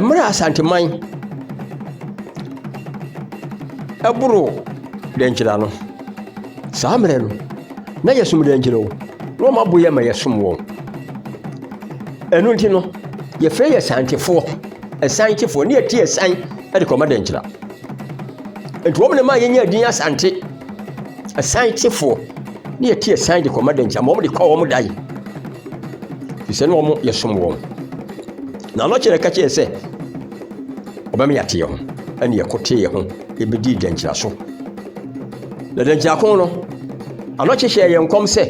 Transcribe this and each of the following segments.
Mmerɛ a Asanteman ɛboro dɛnkyira no saa mmerɛ no na yɛsom dɛnkyira o na wɔn abo yɛ ma yɛsom wɔn ɛno nti no yɛfrɛ yɛ santefoɔ ɛsan kyefoɔ ne yɛte ɛsan ɛde kɔma dɛnkyira nti wɔn na ma yɛnya din asante. Asan kyefoɔ ne yɛte asan de kɔma dɛnkyɛ ma wɔn de kɔ wɔn dae fi sɛ ne wɔn yɛ som wɔn na ano kyerɛ ka kyerɛ sɛ ɔbɛma yɛate yɛn ho ɛne yɛkɔte yɛn ho yɛbɛdi dɛnkyerɛ so na dɛnkyerɛ ko no ano kyehyɛ yɛn nkɔm sɛ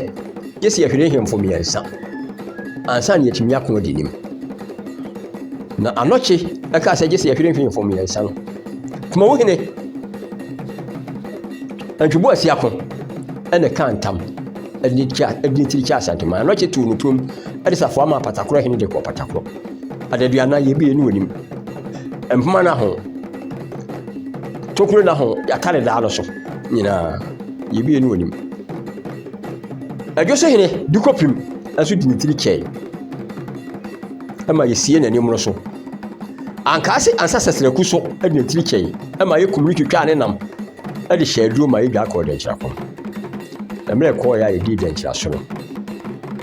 yɛ sɛ yɛhwere hemfo mmiɛnsa ansa ne yɛtumi ako adi nim na anɔkye ɛka sɛ gye sɛ yɛhwere hemfo mmiɛnsa no kuma wo hene Antwi Boasi ako na ɛkaa ntam de kya de tiri kya Asantuma na ɔkye too no turom de safoa maa Patakoro hene de kɔɔ Patakoro adaduanan yɛ bie ne wɔnim mpoma no ho tokuro no ho yɛatare daa no so nyinaa yɛ bie ne wɔnim adwo so hene de kɔpem nso de ne tiri kyɛe ɛma yɛsie n'anim no so Ankaa se ansa Sɛsrɛku so de ne tiri kyɛe ma yɛn kum no twitwaa ne nam de hyɛɛ aduro ma yedwaa kɔɔ Dɛnkyira pon. Mmerɛ ɛkɔɔeɛ a yedii Dɛnkyira so no,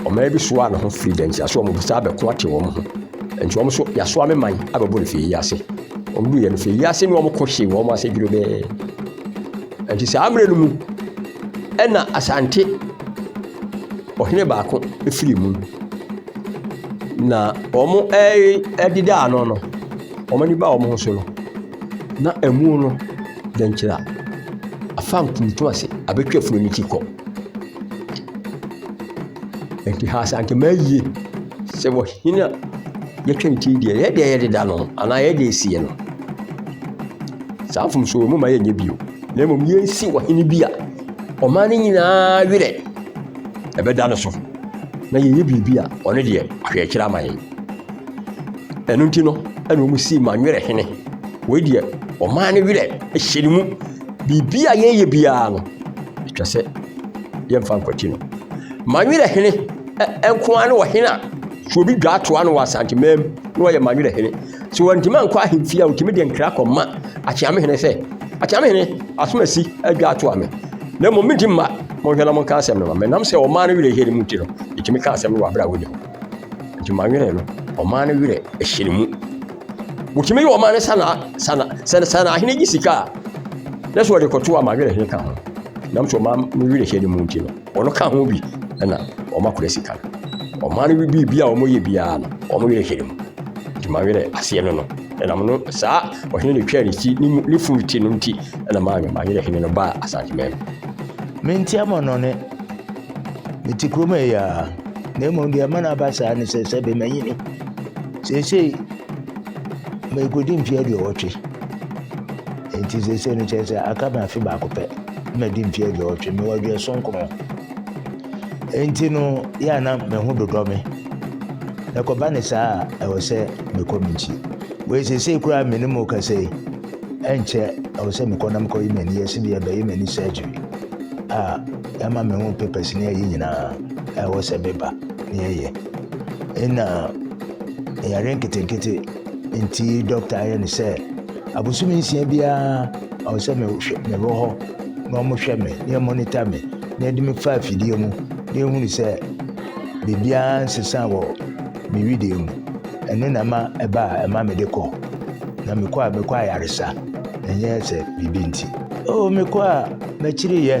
ɔman bi soaa ne ho firi Dɛnkyira so a wɔn bɛsan abɛko ate wɔn ho. Nti wɔn nso yɛasoa me man abɛbɔ no fie yi ase. Wɔn duiɛ no fie yi ase ne wɔn ko hyee wɔn ase dwerɛbɛɛ. Nti saa mmerɛ no mu ɛna Asante ɔhene baako firi mu. Na wɔrededa ano no, wɔn ani baa wɔn ho so no, na ɛmu no dɛnkyɛm a afam tuntum ase abɛtwa funu no ti kɔ. Ɛnti Asantehene yie sɛ wɔ hene a yɛtwa ne ti deɛ yɛ deɛ yɛdeda no anaa yɛ deɛ esie no. Saa mfomsoɔ mu ma yɛnyɛ bio na mmom yɛnsi ɔhene bi a ɔman no nyinaa werɛ ɛbɛda no so na yɛyɛ biribi a ɔno deɛ ahwɛ akyerɛ ama yɛn ɛno nti no ɛna wɔn sii ma nwerɛ hene wei deɛ ɔmaa ne werɛ hyɛ ne mu biribi a yɛyɛ biara no atwa sɛ yɛmfa nkwati no ma nwerɛ hene nkoa ne ɔhene a sɛ obi dwa atoa no wɔ asantemaa mu na ɔyɛ ma nwerɛ hene So wɔantumi ankɔ ahemfie a wɔtumi de nkra kɔma Akyeame hene sɛ, Akyeame hene, asomasi adwa atoa me, na mmom medi mma, monhwɛ na monka asɛm no ma me. Nam sɛ ɔmaa no werɛ hyɛne mu nti no, ɛtumi ka asɛm no wɔ aberɛ a wɔni hɔ. Nti ma werɛ no, ɔmaa no werɛ hyɛne mu. Wɔtumi yɛ ɔmaa no sana sana sana sana ahene gye sika a, na sɛ wɔde kɔto a ma werɛ hene ka ho. Nam sɛ ɔmaa no werɛ hyɛne mu nti no. Wɔka ho bi na wɔakora sika no. Ɔman no biribi a wɔyɛ biara no, wɔn werɛ hyɛ mu. Nti mawerɛ aseɛ no no. Ɛnam no saa ɔhene no twaa ne ti ne funu ti no nti na maame mawerɛ hene no baa Asanteman mu. Menteɛ mo nnɔne. Mete kurom ha yi ara. Na mmom deɛ ɛma no aba saa ne sɛ sɛbe manyini. Seesei merekɔdi mfeɛ aduɔwɔtwe. Enti seesei no, kyerɛ sɛ aka me afe baako pɛ na madi mfe aduɔwɔtwe. Mewɔ aduɔson nkron. Enti no, yɛ a na me ho dodɔ me. Na ɛkɔba ne saa a, ɛwɔ sɛ mekɔ me nkyi. Wei seesei koraa me ne mo rekasa yi, ɛnkyɛ ɛwɔ sɛ mekɔ na mekɔyi m'ani. Yɛse deɛ bɛyɛ m'ani surgery a ɛma me ho papers ne ayi nyinaa a ɛwɔ sɛ meba ne yɛyɛ. Ɛna yare nketenkete nti dɔkta ayɛ ne sɛ Abosome nsia biara ɔwɔ sɛ mehwɛ mewɔ hɔ na wɔhwɛ me na wɔmonita me na yɛde me fa afidie mu na yɛhunu sɛ biribiara nsesa wɔ me wedeɛ mu ɛno na ɛma ɛba a ɛma mede kɔ na mekɔ a mekɔ ayaresa ɛnyɛ sɛ biribi nti oo oh, mekɔ a makyiriyɛ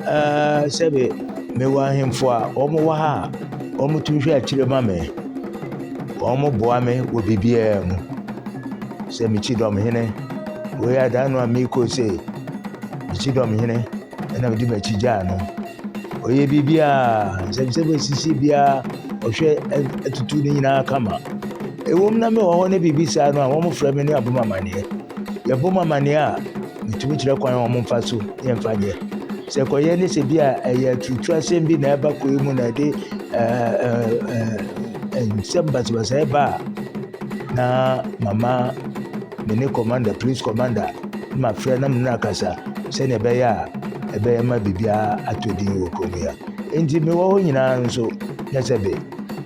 ɛɛ sɛbe mewɔ ahemfo a wɔn wɔ ha a wɔtumi hwɛ akyire ma me Wɔboa me wɔ biribiara mu. Sɛ me Kyidɔmhene, wei adaa no a merekɔ sei, me Kyidɔmhene na mede m'akyi gyaa no. Ɔyɛ biribiara, nsɛmnsɛm a ɛsisi biara, ɔhwɛ atutu ne nyinaa kama. Ɛwom na mewɔ hɔ na biribi saa no a, wɔfrɛ me ne abom amanneɛ. Yɛbɔ mu amaneɛ a, yɛtumi kyerɛ kwan a wɔmfa so yɛmfa nyɛ. Sɛ kɔyɛ ne sɛ bi a ɛyɛ aturutu asɛm bi na ɛba kɔɛ mu na ɛde nsɛm basabasayɛ ba a, na mama me ne kɔmanda, polis kɔmanda na mafrɛ na me ne no akasa sɛdeɛ ɛbɛyɛ a ɛbɛyɛ ma biribiara atɔ din wɔ kurom yi a. Nti mewɔ hɔ nyinaa nso, nyɛ sɛ be,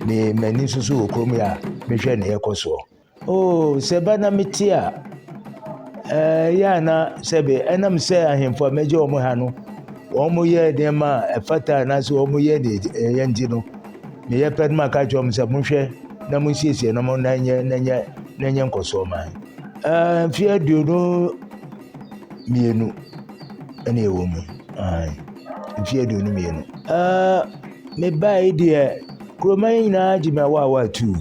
me m'ani nso so wɔ kurom yi a mehwɛ ne ɛkɔ soɔ. Oo, sɛ ɛba na mete a, ɛyɛ a na sɛbe ɛnam sɛ ahemfo a megye wɔn ha no, wɔyɛ nneɛma a ɛfata anaasɛ wɔyɛ ne ɛyɛ nti no, meyɛ pɛ no ma ka kyerɛ wɔn sɛ monhwɛ na monsiesie na mo na nyɛ na nyɛ na nyɛ nkɔsoɔ ma ɛɛ mfe aduonu mmienu ɛna ɛwɔ mu ɛɛ mfe aduonu mmienu ɛɛ mebae deɛ kuroma yi nyinaa gye me awa awa atuu.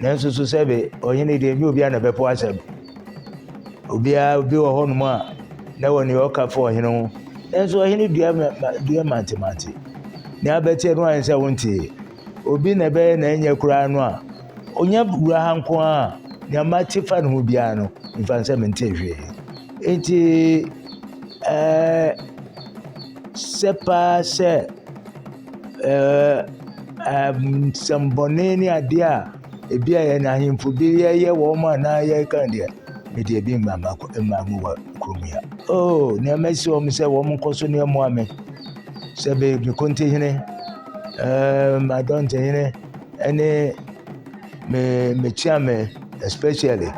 Nanso so sɛbe ɔhene deɛ ɛnyɛ obiara na ɛbɛpo asɛm? Obiara obi wɔ hɔnom a na wɔ nea ɔka fa ɔhene ho. Nanso ɔhene dua dua mantemante. Nea abɛteɛ no ayɛ sɛ wontee. Obi na ɛbɛyɛ na ɛnyɛ koraa no a, ɔnya wura ha nko a nea mate fa ne ho biara no, mfa nsɛ mentee hwee. Enti ɛɛ sɛ paa sɛ nsɛmmɔne ne adeɛ a ebi a yɛn ahemfo bi yɛyɛ wɔn anaa yɛka deɛ, me deɛ ebi mma m'akɔ mma me wɔ kurom ha. Oh, nea mɛsi wɔn sɛ wɔn nkɔ so ne ɛmoa me sɛ me me kontihene, ɛɛ m'adɔntehene ɛne me me kyeame especially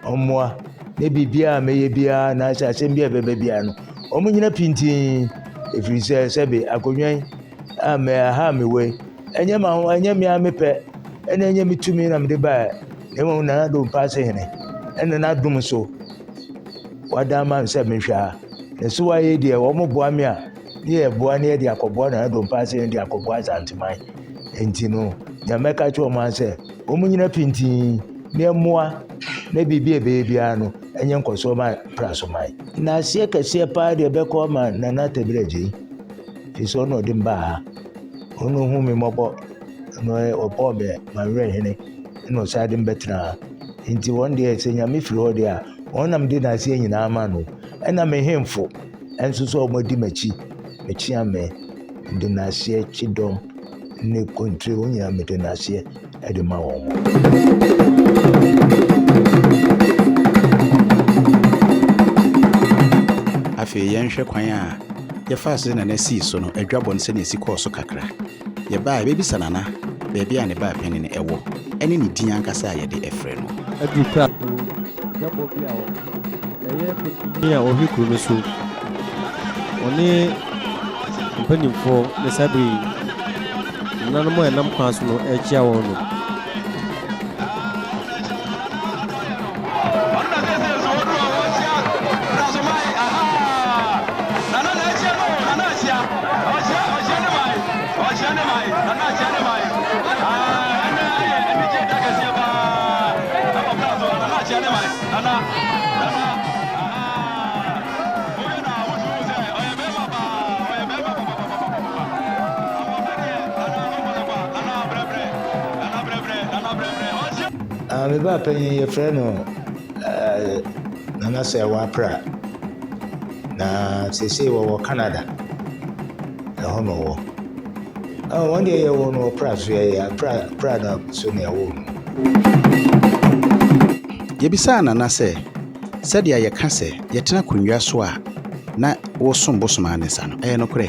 wɔn mmoa ne biribiara a mɛyɛ biara anaasɛ asɛm bi a ɛbɛba biara no Wɔnnyina pintinn, ɛfiri sɛ sɛbe akonnwa yi a aha a mewɔ yi, ɛnyɛ m'aho, ɛnyɛ me ara me pɛ, ɛna ɛnyɛ me tumi na mede baeɛ, na mmom Nana Addo Mpaase Hene, ɛna n'adom so wada ama me sɛ mehwɛ ha. Na so ayɛ deɛ wɔboa me a, ne yɛ boa ne yɛde akɔboa Nana Addo Mpaase Hene de akɔboa Asanteman. Nti no, deɛ mɛka kyerɛ wɔn ara sɛ, wɔnnyina pintinn na ɛmmoa na biribi a ɛbɛyɛ biara no, ɛnyɛ nkɔsoɔ ma Prasoman. Naaseɛ kɛseɛ paa deɛ bɛkɔ ama Nana Tebrɛgye firi sɛ ɔna ɔde mbaa ha ɔna ɔhu me mmɔbɔ na ɔbɔɔ me mawerɛ hene na ɔsan de mbɛtena ha nti wɔn deɛ sɛ nyame firi hɔ deɛ a wɔn nam de naaseɛ nyinaa ma no ɛna me hemfo ɛnso sɛ wɔn adi m'akyi mekyea me de naaseɛ kyedɔm ne kontire wɔn nyinaa mede naaseɛ de ma wɔn. Afei yɛnhwɛ kwan a yɛfaa so de Nana sii so no adwabɔ no sɛnea esi kɔɔ so kakra. Yɛbaa a yɛbɛbisa Nana baabi a ne baa panyin wɔ ne ne din ankasa a yɛde frɛ no. Ɛyɛ pɛkuo a ɔhwɛ kuro no so. Ɔne mpanimfoɔ ne saa bere yi. Nananom a ɛnam kwan so no rekyia wɔn no. Ah, me ba panyin yɛfrɛ no eh, Nana Sɛwa Pra. Na seesei wɔwɔ Canada. Ɛhɔ na ɔwɔ. Ɔn, wɔn deɛ yɛwoo no wɔ Pra so, yɛyɛ a Pra, Pra na so na yɛwoo no. Yɛbisaa Nana sɛ, Sɛdeɛ yɛka sɛ yɛtena akonnwa so a na wosom bosom ara ne saa no, ɛyɛ nokorɛ?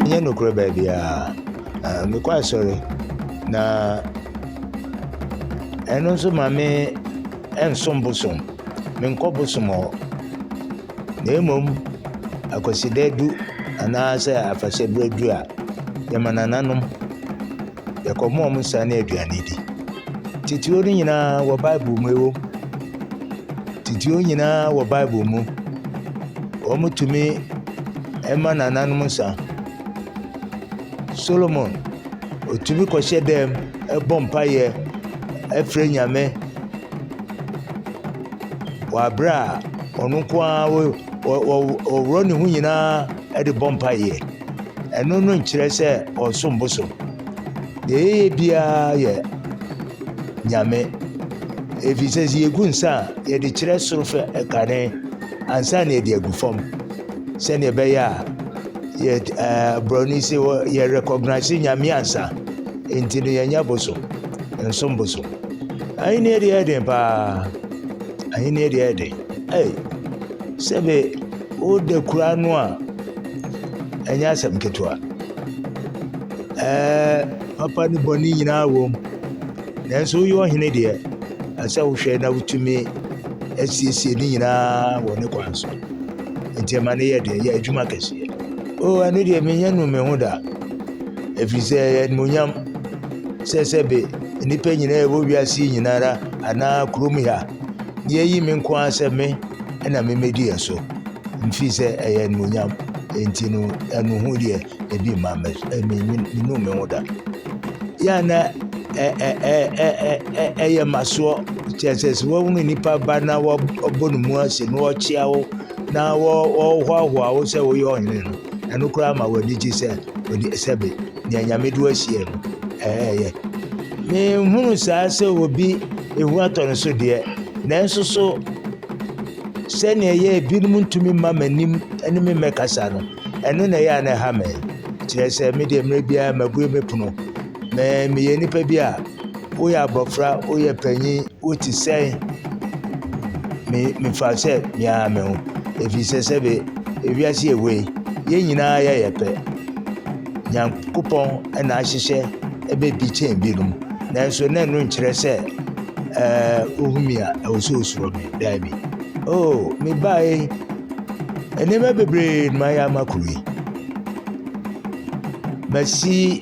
Ɛnyɛ nokorɛ baabiara. Ɛ, mekɔ asɔre, na ɛno nso ma me nsom bosom. Menkɔ bosom hɔ. na mmom Akwasida du anaasɛ afahyɛ berɛ du a, yɛma nananom, yɛkɔma wɔn nsa ne aduane di. Titire no nyinaa wɔ Bible mu, ɛwom, titire nyinaa wɔ Bible mu. Wɔtumi ma nananom nsa. Solomon, ɔtumi kɔhyɛ dɛm, ɛbɔ mpaeɛ, ɛfrɛ Nyame. wɔ aberɛ a ɔno nko ara ɔworɔ ne ho nyinaa de bɔ mpaeɛ ɛno no nkyerɛ sɛ ɔnsom bosom deɛ yɛyɛ biara yɛ nyame ɛfiri sɛ sɛ yɛgu nsa a yɛde kyerɛ soro fɛ ɛkane ansa na yɛde agu fam sɛdeɛ ɛbɛyɛ a yɛ ɛɛ borɔni sɛ yɛ recognize nyame ansa nti no yɛnyɛ bosom nsom bosom. Ahenni deɛ yɛ den paa ahenni deɛ yɛ den ei sɛbe woda kura no a ɛnyɛ asɛm ketewa ɛɛ papa ne bɔne nyinaa wɔ mu nanso woyɛ ɔhene deɛ ɛsɛ wohwɛ na wotumi asiesie ne nyinaa wɔ ne kwan so nti ɛma no yɛ den yɛ adwuma kɛseɛ o ɛno deɛ menyɛ nu me ho da ɛfiri sɛ ɛyɛ animonyam sɛ sɛbe nnipa nyinaa ɛwɔ wiase yi nyinara anaa kurom ha yɛyi me nko ara sɛ me ɛna memɛdi yɛ so mfiri sɛ ɛyɛ animonyam nti no ɛno ho deɛ ebi mma menu me ho da yɛ na ɛyɛ masoɔ kyɛ sɛ sɛ wɔhunu nnipa ba na wɔbɔ ne mu ase na wɔkyea wo na wɔhoahoa wo sɛ woyɛ ɔhene no ɛno koraa ma w'ani gye sɛ sɛbe Nea Nyame de wo ahyia mu ɛɛ yɛ. Me nhunu saa sɛ obi ehu atɔ no so deɛ, nanso so sɛnea ɛyɛ ebinom ntumi mma m'anim ne me mmɛkasa no, ɛno na ɛyɛ a na ɛha me. Kyerɛ sɛ me deɛ mmerɛ biara mabue me pono. Me meyɛ nipa bi a. Woyɛ abɔfra, woyɛ panyin, wote sɛn? Me mefa sɛ me ara me ho. Efisɛ sɛbe wiase a ɛwɔ yi, yɛn nyinaa yɛyɛ pɛ. Nyankopɔn na ahyehyɛ ɛbɛ bi kyɛn binom. Nanso na ɛno nkyerɛ sɛ ɛɛ ohu me a, ɛwɔ sɛ osuro me. Daabi. Oh, mebae yi, nneɛma bebree na mayɛ ama kuro yi. Masi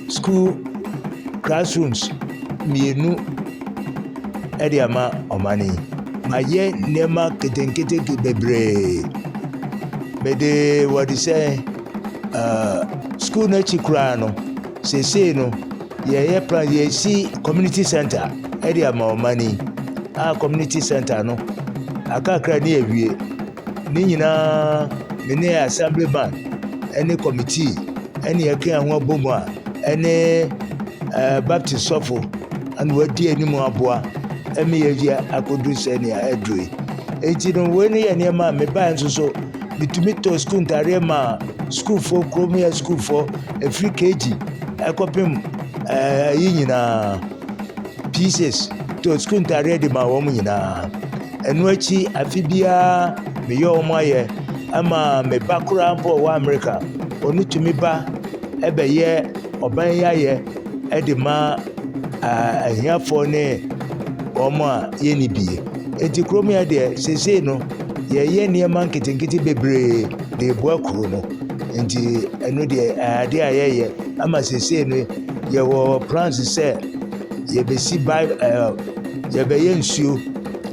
sukuu classrooms mmienu de ama ɔman yi. Mayɛ nneɛma ketenketeke bebree. Mede wɔde sɛ uh, school no akyi koraa no, seesei no yɛyɛ plan yɛsi community center de ama ɔman yi a community center no akakra ne awie Ne nyinaa me ne assembly bank ɛne committee ɛne ɛka ho abom a ɛne ɛɛ baptist sɔfo ɛna wadi anim aboa ɛmi yɛ yɛ akodu sɛ nea ɛduru yi eti no wei ne yɛ nneɛma a mebae nso so metumi tɔ sukuu ntaadeɛ ma sukuufoɔ kurom yɛ sukuufoɔ efiri kg ɛkɔpem ɛɛ yi nyinaa. pieces to sukuu ntaadeɛ de ma wɔn nyinaa ɛno akyi afe biara meyɛ wɔn ayɛ ama me ba koraa mpo ɔwɔ amerika ɔno tumi ba ɛbɛyɛ ɔban yi ayɛ ɛde ma ahiafoɔ ne wɔn a yɛnni bie eti kurom yɛ deɛ seesei no yɛyɛ nneɛma nketenkete bebree de eboa kuro no nti ɛno deɛ ɛyɛ adeɛ a yɛyɛ ama seesei no. Yɛwɔ plans sɛ yɛbɛsi bi ɛɛ yɛbɛyɛ nsuo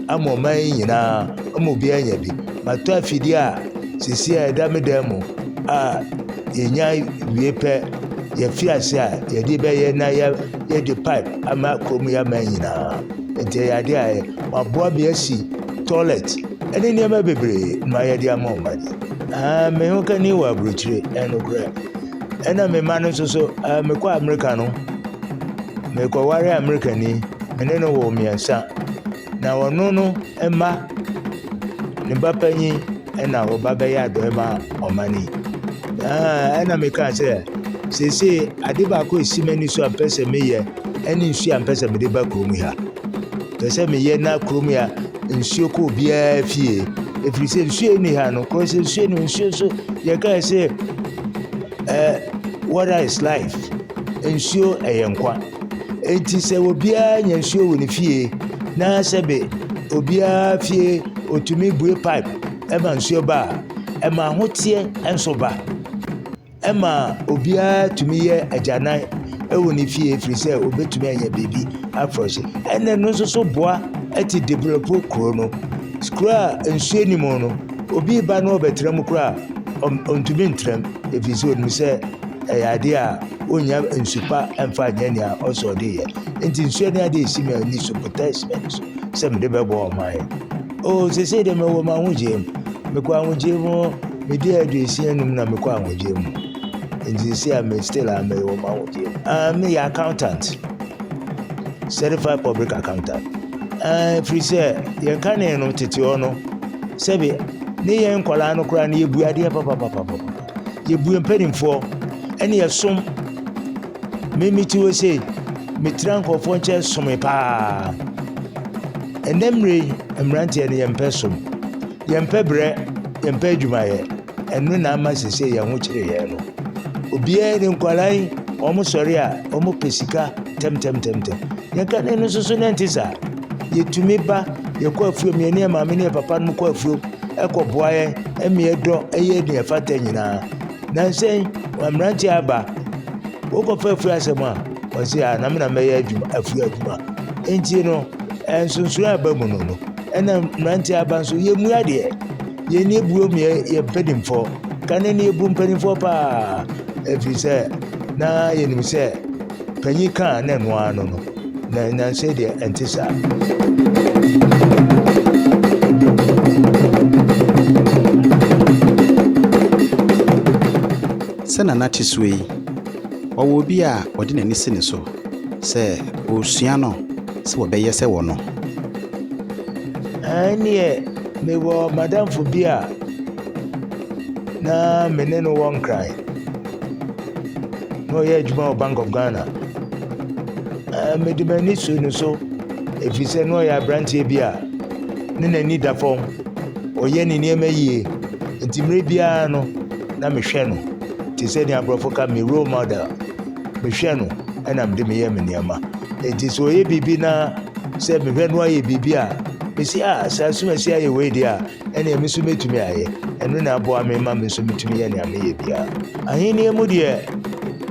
ama ɔman yi nyinaa ama obiara anya bi. Matɔ afidie a seesei a ɛda me dan mu a yɛnya wie pɛ yɛafi ase a yɛde bɛyɛ na yɛ yɛde pipe ama kurom yi aman nyinaa. Nti ɛyɛ adeɛ a ɛyɛ waboa me asi toilet ɛne nneɛma bebree ma yɛde ama ɔman yi. Aa me ho kani wɔ aburokyire ɛnokorɛ. Ɛna me mma no nso so, ah, mekɔ Amerika no, mekɔware Amerikani. Me ne no wɔ mmiɛnsa. Na ɔno no mma, ne ba panyin ɛna ɔba bɛyɛ adɔe ma ɔman yi. Ah, ɛna mekaa sɛ, seesei ade baako esi m'ani so a mpɛ sɛ meyɛ ɛne nsuo a mpɛ sɛ mede ba kurom ha. Pɛ sɛ meyɛ na kurom ya nsuo kɔ obiara fie. Ɛfiri sɛ nsuo ni ha no, kɔsɛ nsuo no nsuo so yɛkaa sɛ Ɛɛ water is life, nsuo yɛ nkwa. Enti sɛ obiara nya nsuo wɔ ne fie na sɛbe obiara fie ɔtumi bue pipe ma nsuo ba a, ɛma ahoteɛ nso ba. Ɛma obiara tumi yɛ agyanan wɔ ne fie ɛfiri sɛ ɔbɛtumi anya biribi afresh. Ɛna ɛno nso so boa te develop kuro no. Kuro a nsuo nni mu no, Obi reba na ɔrebɛtra mu koraa a, ontumi ntra mu, ɛfiri sɛ onim sɛ ɛyɛ adeɛ a ɔnnya nsu pa mfa nyɛ nea ɔsɛ ɔde yɛ. Nti nsuo ne adeɛ ɛsi me ani so botae si m'ani so sɛ mede bɛbɔ ɔman. O sesei deɛ mewɔ m'ahogyee mu, mekɔ ahogyee mu, medi aduosia num na mekɔ ahogyee mu. Nti sesei a me still a mewɔ m'ahogyee mu. Ah, meyɛ accountant, certified public accountant. Aane, ɛfiri sɛ yɛn kane no tete hɔ no, sɛbe ne yɛn nkwadaa no koraa no yɛbue adeɛ papapapapa, yɛbue mpanimfoɔ ɛne yɛsom. Me mete hɔ sei, metira nkurɔfoɔ nkyɛn some paa. Ɛnɛ mmerɛ yi, mmeranteɛ no yɛmpɛ som, yɛmpɛ berɛ, yɛmpɛ adwumayɛ. Ɛno na ama sese yɛn ho kyere yɛn no. Obiara ne nkwadaa yi, wɔn sɔre a, wɔn pɛ sika tɛmtɛmtɛmtɛm. Yɛn kane no nso so na ɛnte saa. Yɛtumi ba, yɛkɔ afuom, yɛne yɛn maame ne yɛn papa no kɔ afuom, ɛkɔboa yɛn, ɛma yɛdɔ, ɛyɛ nea ɛfata nyinaa. Nansɛn, mmeranteɛ aba, wokɔfa afuo asɛm a, wɔsi a na mena mɛyɛ adwuma, afuo adwuma. Nti no, nsonsono a ɛba mu no no, ɛna mmeranteɛ aba nso yɛmmua deɛ. Yɛn ni abuo mu yɛ mpanimfoɔ kane ni abu mpanimfoɔ paa ɛfiri sɛ na yɛnim sɛ panyin kaa na ɛno ano no na nansa deɛ ɛnte saa. sɛ nana te soɔ yi ɔwɔ obi a ɔde n'ani si ne so sɛ ɔresua no sɛ wɔbɛyɛ sɛ wɔ no ɛneɛ Mewɔ madamfo bi a na me ne no wɔ nkran. Na ɔyɛ adwuma wɔ Bank of Ghana. Mede m'ani so no so ɛfiri sɛ na ɔyɛ aberanteɛ bi a ne n'ani da fam. Ɔyɛ ne nneɛma yie. Nti mmerɛ biara no na mehwɛ no te sɛ deɛ aborɔfo ka me role model. mehwɛ no ɛna mede meyɛ me nneɛma nti sɛ ɔyɛ biribi na sɛ mehwɛ no ayɛ biribi a mesi a ah, saa sum asi ayɛ wei deɛ a ɛneɛ me nso mɛtumi ayɛ ɛno na aboa me ma me nso metumi yɛ nea meyɛ biara ahenniɛ mu deɛ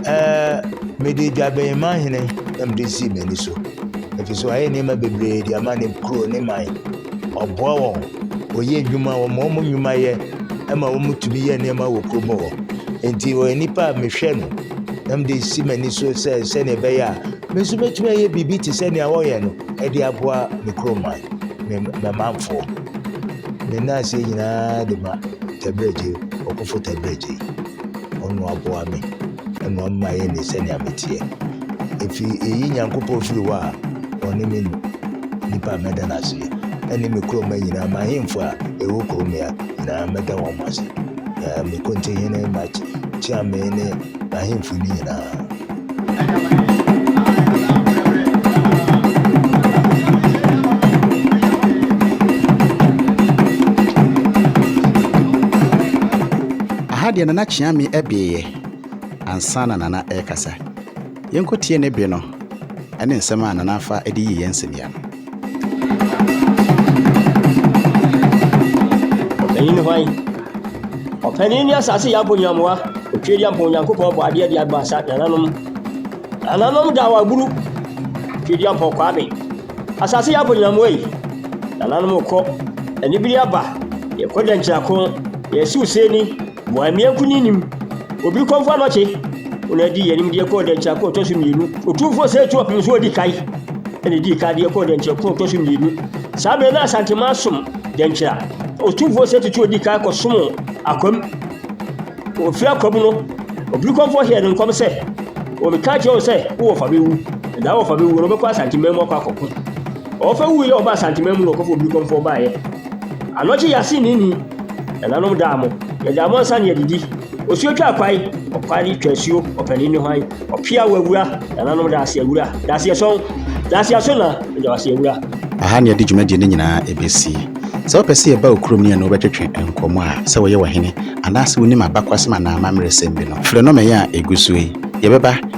ɛɛ mede dwabɛn ma hene na mede sii m'ani so ɛfiri so ayɛ nneɛma bebree de ama ne kuro ne man ɔboa wɔn ɔyɛ nnwuma wɔn wɔn nnwuma yɛ ɛma wɔn tumi yɛ nneɛma wɔ kurom hɔ nti ɔyɛ nipa a mehwɛ no na mede resi m'ani so sɛ sɛnea ɛbɛyɛ a me nso mɛtumi ayɛ biribi te sɛ nea wɔyɛ no de aboa me kurom man me mɛmanfoɔ ne nan ase nyinaa de ma tɛbrɛgye ɔkofo tɛbrɛgye ɔno aboa me ɛna ɔmma yɛ ne sɛnea meteɛ efi eyi nyankopɔn firi hɔ a ɔne me nipa mɛda no aseɛ ɛne me kurom man nyinaa ma ahemfo a ɛwɔ kurom ya nyina mɛda hom ase, na me konti hene Maj kyia me ne n'ahemfo no nyina. Aha deɛ Nana Kyeame beeɛ ansa na Nana ɛrekasa. Yɛnkɔtie ne bɛ no ne nsɛm a Nana Afah de yii yɛn nsania no. Ɔpanyin hwan? Ɔpanyin ne asase yɛ abonyamoa, Otwedeampa Onyankopɔn bɔ adeɛ de abɔ asa nananom. Nananom da wɔ aburu, Otwedeampa ɔkɔ abe. Asase yɛ abonyamoa yi, nananom kɔ, anibere aba, yɛkɔ dɛnkyira ko, yɛsiw sɛni, Boamia Nkunyinyim, Obi Kɔmfo Anɔkye, Ɔno na dii anim deɛ kɔɔ dɛnkyɛr ko ɔtɔ so mmienu. Otumfoɔ Seitrop nso adi kan na dii kan deɛ kɔɔ dɛnkyɛr ko ɔtɔ so mmienu. Saa bere na Asanteman som dɛnkyɛr a Otumfoɔ Setutu adi kan kɔsom Akwam. Ofiri Akwam no, Obi Kɔmfo hyɛɛ no nkɔm sɛ, Wɔbɛka kyerɛ wo sɛ wo wɔfa bɛwu, na daa wɔfa bɛwuo no wobɛkɔ Asanteman mu akɔ akɔko. Ɔwɔfa wuiɛ a ɔbaa Asanteman mu na ɔkɔfo Obi Kɔmfo baeɛ. Anɔkye yɛase nnii nnii, nananom daa mo, yɛgyaa mo ansa na yɛadidi. Osuo twaa kwae, ɔkware twaa suo, ɔpanin ne hwan, ɔpea wɔ awura, nananom da ase awura, da ase ɛsɔn, da ase aso na, meda wo ase awura. Aha na yɛde dwumadie no nyinaa bɛsi. Sɛ wopɛ sɛ yɛba wo kurom ne yɛne wo bɛtwetwe nkɔmmɔ a, sɛ woyɛ ɔhene, anaasɛ wonim abakwasɛm anaa amammerɛsɛm bi no, frɛ nɔma yi a ɛgu so yi. Yɛbɛba.